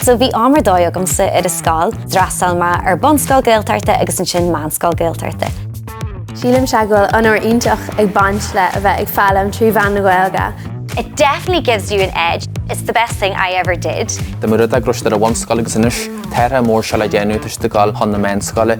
So bhí am ar dóigh agamsa ar an scoil, d'fhreastail mé ar bunscoil Gaeltachta agus ansin meánscoil Gaeltachta. Sílimse go bhfuil onóir iontach ag baint le a bheith ag foghlaim trí mheán na Gaeilge. It definitely gives you an edge, it's the best thing I ever did. Tá mé i rang a sé sa bhunscoil agus anois, tá rogha mór seo le déanamh toisc dul chun na meánscoile.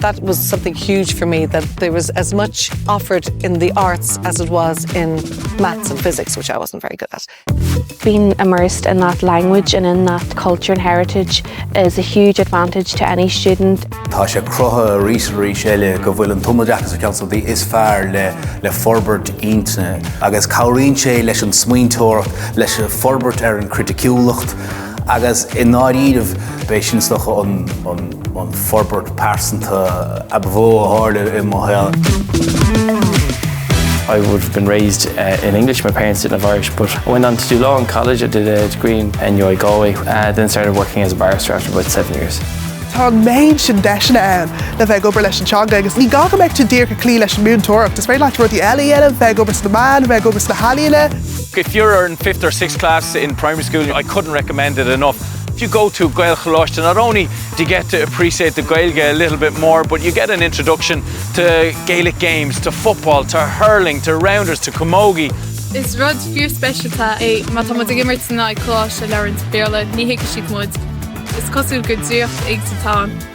That was something huge for me that there was as much offered in the arts as it was in maths and physics, which I wasn't very good at. Being immersed in that language and in that culture and heritage is a huge advantage to any student. Tá sé cruthaithe arís is arís eile go bhfuil an tumoideachas ar cheann de na slite is fearr le forbairt intinne agus cabhraíonn sé leis an smaointeoireacht, leis an forbairt ar an chriticiúlacht agus i ndáiríribh b'é sin is dócha an an forbairt pearsanta ab mhó a tharla i mo shaol. I would have been raised in English, my parents didn't have Irish, but I went on to do law in college, I did a degree in NUI Galway, then started working as a barrister after about seven years. Tá an méid sin deiseanna ann le bheith ag obair leis an teanga agus ní gá go mbeidh tú díreach ag cloí leis an múinteoireacht, is féidir leat rudaí eile a dhéanamh, bheith ag obair sna meáin, bheith ag obair sna healaíona. If you're in fifth or sixth class in primary school, I couldn't recommend it enough. If you go to Gaelcholáiste not only do you get to appreciate the Gaeilge a little bit more but you get an introduction to Gaelic games, to football, to hurling, to rounders, to camogie. Is rud fíorspeisialta é má tá muid ag imirt in aghaidh coláiste a labhraíonn siad Béarla, ní thuigfidh siad muid. Is cosúil gur draíocht éigin atá ann.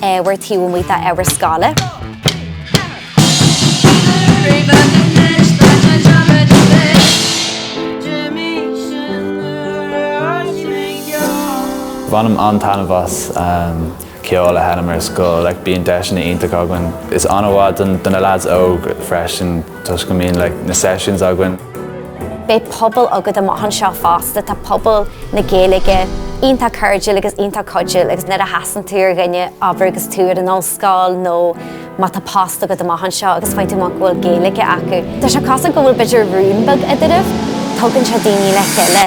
obair taobh amuigh d'obair scoile. Bainim an-taitneamh as ceol a sheinm ar scoil, like bíonn deiseanna iontacha againn. Tá sé an-mhaith do na lads óg freisin. Toisc go mbíonn like na sessions againn. Beidh pobal agat amach anseo fosta, tá pobal na Gaeilge iontach cairdiúil agus iontach cuidiúil agus nuair a chasann tú ar dhuine ag obair agus tú ar an ollscoil nó má tá post agat amach anseo agus faigheann tú amach go bhfuil Gaeilge acu, tá sé cosúil go bhfuil b'fhéidir rún beag eadraibh, tugann sé daoine le chéile.